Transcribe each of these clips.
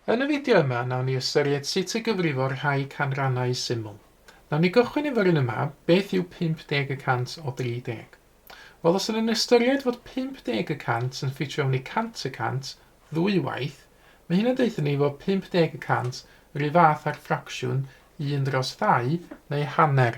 Yn y fideo yma, nawn ni ystyried sut y gyfrifo rhai canrannau syml. Nawn ni gychwyn efo'r un yma, beth yw 50 y cant o 30? Wel, os ydyn ni'n ystyried fod 50 y cant yn ffitio mewn i 100 y cant ddwy waith, mae hyn yn deutha ni fod 50 y cant yr un fath â'r ffracsiwn un dros ddau neu hanner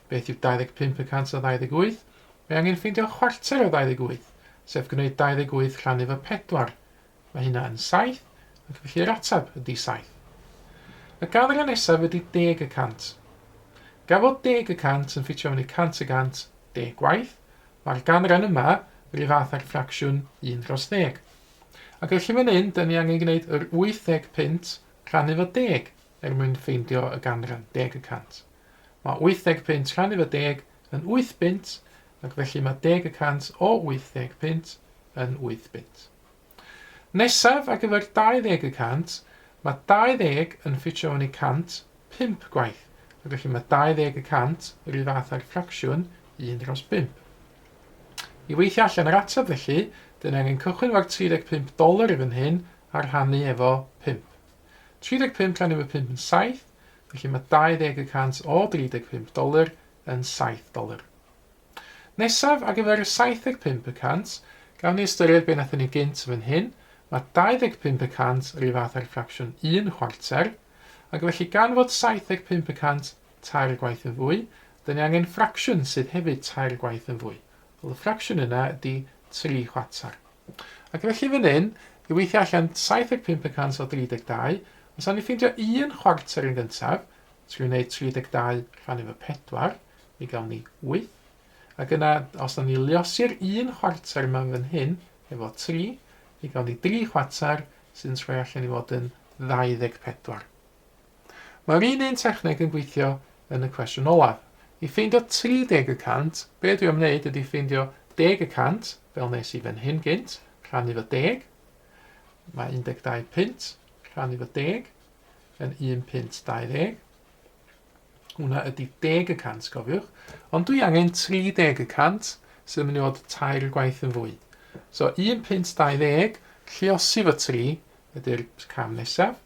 Beth yw 25 y cant o 28? Mae angen ffeindio chwarter o 28, sef gwneud 28 rhannu fy 4. Mae hynna yn 7, ac felly yr ateb ydy 7. Y ganran nesaf ydy deg y cant. Gan fod deg y cant yn ffitio fyny cant y gant, deg gwaith, mae'r ganran yma ry fath â'r ffracsiwn un dros ddeg. Ac felly fan hyn, dyn ni angen gwneud yr wyth deg punt rhannu fy deg er mwyn ffeindio y ganran, deg y cant. Mae 80 punt canrif o deg yn wyth bunt, ac felly mae deg y cant o 80 punt yn wyth bunt. Nesaf, ar gyfer 20 y cant, mae 20 yn ffitio yn ei cant pump gwaith, ac felly mae 20 y cant yr un fath â'r ffracsiwn un dros bump. I weithio allan yr ateb felly, dyn angen cychwyn efo'r 35 doler i fan hyn a rhannu efo pump. 35 rhannu efo pump yn saith, Felly mae 20 y cant o 35 doler yn 7 doler. Nesaf, ar gyfer y 75 y cant, gawn ni ystyried be wnaethon ni gynt fan hyn, mae 25 y cant yr un fath ar ffracsiwn 1 chwarter, ac felly gan fod 75 y cant tair gwaith yn fwy, dyn ni angen ffracsiwn sydd hefyd tair gwaith yn fwy. Wel, y ffracsiwn yna ydy 3 chwarter. Ac felly fan hyn, i weithio allan 75 yn cant o 32, os awn ni ffeindio un chwarter yn gyntaf, trwy wneud 32 rhan efo 4, mi gawn ni 8. Ac yna, os awn ni liosi'r un chwarter yma fan hyn, efo 3, mi gawn ni 3 chwarter, sy'n troi allan i fod yn 24. Mae'r un un techneg yn gweithio yn y cwestiwn olaf. I ffeindio 30 y cant, be dwi am wneud ydy ffeindio deg y cant, fel nes i fan hyn gynt, rhannu fo deg. Mae 12 punt rhannu fo deg yn 1 punt 20. Hwna ydy deg y cant, cofiwch. Ond dwi angen 30 y cant, sydd yn mynd i fod tair gwaith yn fwy. So 1 punt 20, lliosi fo 3 ydy'r cam nesaf.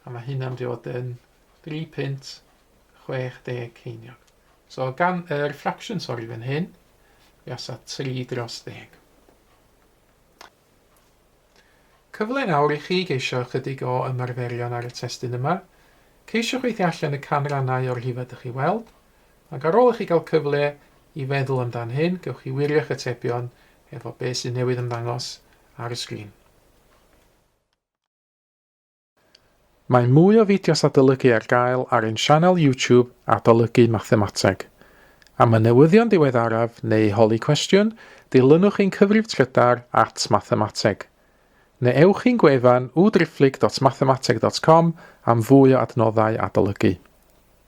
A mae hynna'n mynd i fod yn 3 pint 60 ceiniog. So gan y er fraction, sori, fan hyn, i asa 3 dros 10. Cyfle nawr i chi geisio ychydig o ymarferion ar y testyn yma. Ceisiwch weithio allan y canrannau o'r rhifau ydych chi weld, ac ar ôl i chi gael cyfle i feddwl amdan hyn, gewch chi wirio'ch atebion efo beth sy'n newydd ymddangos ar y sgrin. Mae mwy o fideos adolygu ar gael ar ein sianel YouTube Adolygu Mathemateg. Am y newyddion diweddaraf neu holi cwestiwn, dilynwch ein cyfrif trydar at Mathemateg. Neu ewch i'n gwefan www.driphlyg.mathemateg.com am fwy o adnoddau adolygu.